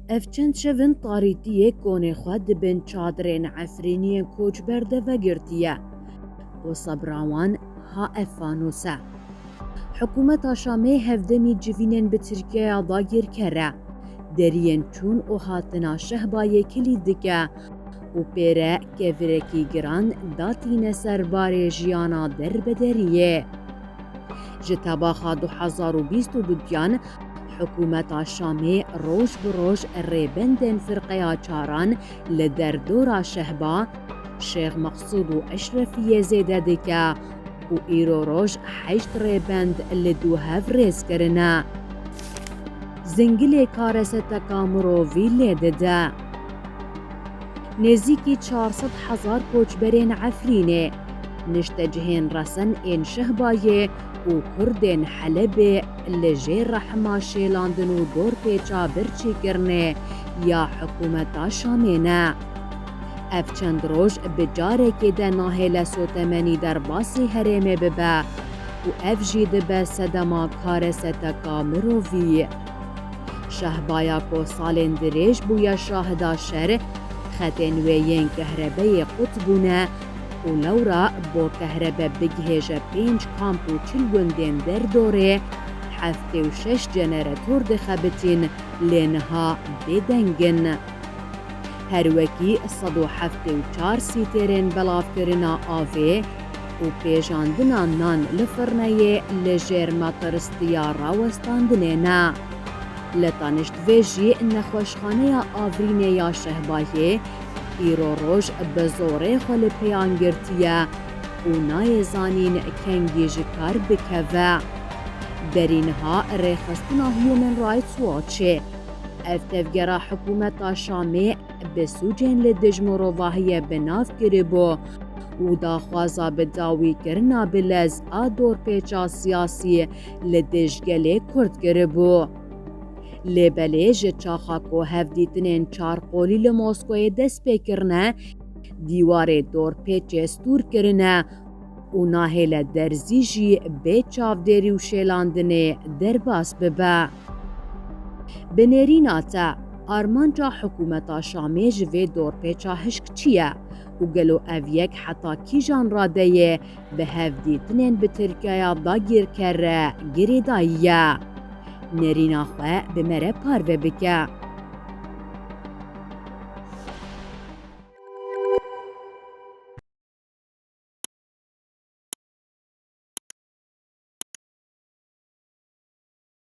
Ev çend şev in tarîtiyê konê xwe di bin çadirên Efrîniyên koçber de vegirtiye. Bo sebra wan ha ev fanos e. Hikûmeta Şamê hevdemî civînên bi Tirkiyeya dagirker e. Deriyên çûn û hatina Şehbayê kilî dike û pê re kevirekî giran datîne ser barê jiyana derbederiyê. Ji tebaxa du hezar û bîst û du giyan, Hikûmeta Şamê roj bi roj rêbendên Firqeya Çaran li derdora Şehba, Şêx Meqsûd û Eşrefiyê zêde dike û îro roj heşt rêbend li du hev rêz kirine. Zingilê kareseteka mirovî lê dide. Nêzîkî çar sed hezar koçberên Efrînê, niştecihên resen ên Şehbayê û Kurdên Helebê, li jê rehma şêlandin û dorpêça birçîkirinê ya hikûmeta Şamê ne. Ev çend roj bi carekê de nahêle sotemenî derbasî herêmê bibe û ev jî dibe sedema kareseteka mirovî. Şahbaya ku salên dirêj bûye şahida şer, xetên wê yên kehrebeyê qut bûne, û newra bo kehrebe bigihêje pênc kamp û çil gundên derdorê heftê û şeş ceneretor dixebitîn lê niha bêdeng in. Her wekî sed û heftê û çar sîtêrên belavkirina avê û pêjandina nan li firneyê li jêr mataristiya rawestandinê ne. Li Taniştvê jî nexweşxaneya Avrînê ya Şehbayê îro roj bi zorê xwe li pêyan girtiye û nayê zanîn kengî ji kar bikeve. Derî niha rêxistina Human Rights Watchê ev tevgera hikûmeta Şamê bi sûcên li dij mirovahiyê bi nav kiribû û daxwaza bi dawî kirina bi lez a dorpêça siyasî li dij gelê Kurd kiribû. Lê belê ji çaxa ku hevdîtinên çarqolî li Moskoyê dest pê kirine, dîwarê dorpêçê stûr kirine û nahêle derzî jî bê çavdêrî û şêlandinê derbas bibe. Bi nêrîna te, armanca hikûmeta Şamê ji vê dorpêça hişk çi ye û gelo ev yek heta kîjan radeyê bi hevdîtinên bi Tirkiyeya dagîrker re girêdayî ye. Nêrîna xwe bi me re parve bike.